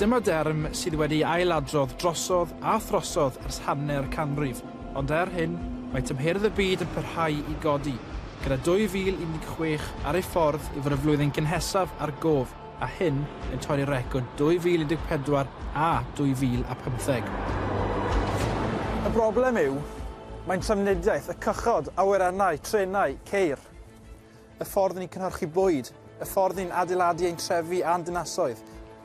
Dyma derm sydd wedi ei ailadrodd drosodd a throsodd ers hanner canrif, ond er hyn, mae tymheredd y byd yn parhau i godi, gyda 2016 ar ei ffordd i fod y flwyddyn gynhesaf ar gof, a hyn yn torri record 2014 a 2015. Y broblem yw, mae'n trafnidiaeth y cychod, awyrennau, trenau, ceir. y ffordd ni'n cynhyrchu bwyd, y ffordd ni'n adeiladu ein trefi a'n dinasoedd.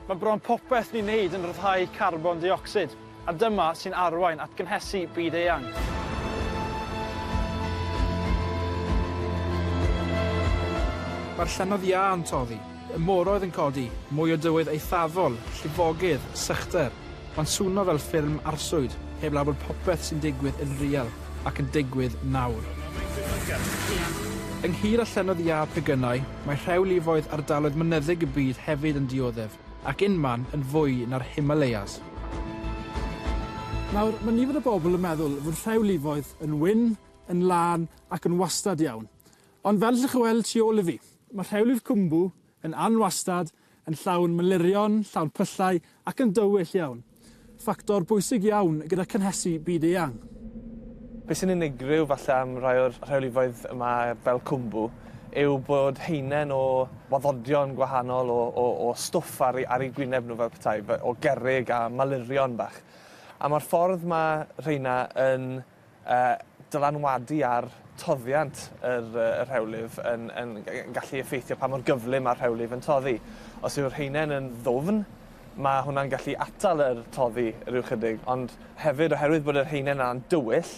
Mae bron popeth ni'n neud yn rhyddhau carbon deuocsid, a dyma sy'n arwain at gynhesu byd eang. Mae'r llynnoedd iâ yn toddi, y moroedd yn codi, mwy o dywydd eithafol, llifogydd, sychder, Mae'n swno fel ffilm arswyd, heblaw bod popeth sy'n digwydd yn real ac yn digwydd nawr. Ynghyd â llennoedd iâ pegynau, mae rhewlifoedd ardaloedd mynyddig y byd hefyd yn dioddef, ac unman yn fwy na'r Himalayas. Nawr, mae nifer o bobl yn meddwl fod rhewlifoedd yn wyn, yn lân ac yn wastad iawn. Ond fel allwch chi weld tu ôl i fi, mae rhewli'r Khumbu yn anwastad Yn llawn malurion, llawn pyllau ac yn dywyll iawn. Ffactor bwysig iawn gyda cynhesu byd eang. Be sy'n unigryw falle am rai o'r rheolyfoedd yma fel Cwmbw yw bod haenen o waddodion gwahanol o o o stwff ar ar eu gwyneb nhw fel petai o gerrig a malurion bach. A ma'r ffordd ma' rheina yn a dylanwadu ar toddiant yr rhewlif yn gallu effeithio pa mor gyflym mae'r rhewlif yn toddi. Os yw'r haenen yn ddwfn, mae hwnna'n gallu atal yr toddi rhyw chydig, ond hefyd oherwydd bod yr haenen yna'n dywyll,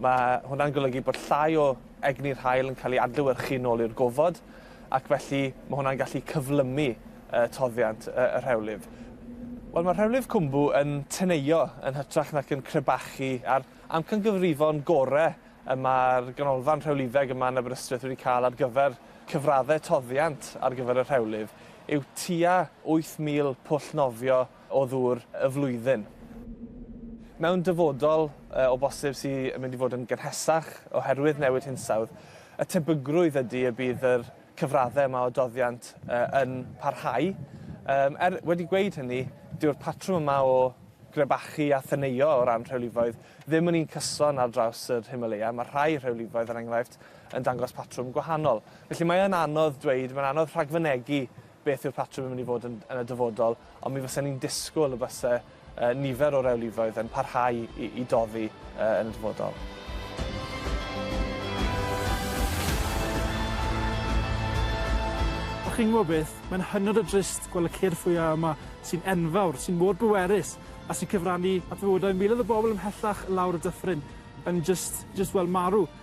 mae hwnna'n golygu bod llai o egni'r haul yn cael ei adlewyrchu nôl i'r gofod, ac felly mae hwnna'n gallu cyflymu yy toddiant y, y rhewlyf. Wel, mae rhewlyf cwmbw yn teneio yn hytrach nac yn crebachu, a'r amcangyfrifon gore y mae'r Ganolfan Rhewlifeg yma yn Aberystwyth wedi cael ar gyfer cyfraddau toddiant ar gyfer y rhewlyf yw tua 8,000 pwll nofio o ddŵr y flwyddyn. Mewn dyfodol, o bosib, sy'n mynd i fod yn gynhesach oherwydd newid hinsawdd, Y tebygrwydd ydy y bydd yr cyfraddau yma o doddiant yn parhau. Er wedi gweud hynny, dyw'r patrwm yma o grebachu a theneuo o ran rhewlifoedd ddim yn un cyson ar draws yr Himalaya. Mae rhai rhewlifoedd, er enghraifft, yn dangos patrwm gwahanol. Felly mae yn anodd dweud, mae'n anodd rhagfynegi beth yw'r patrwm yn mynd i fod yn, yn y dyfodol, ond mi fysa ni'n disgwyl y byse uh, nifer o rewlifoedd yn parhau i, i doddi uh, yn y dyfodol. A chi'n gwybod beth, mae'n hynod o drist gweld y ceir ffwyau yma sy'n enfawr, sy'n mor bwerus a sy'n cyfrannu at fywydau miloedd o bobl ymhellach lawr y dyffryn yn just, just well marw.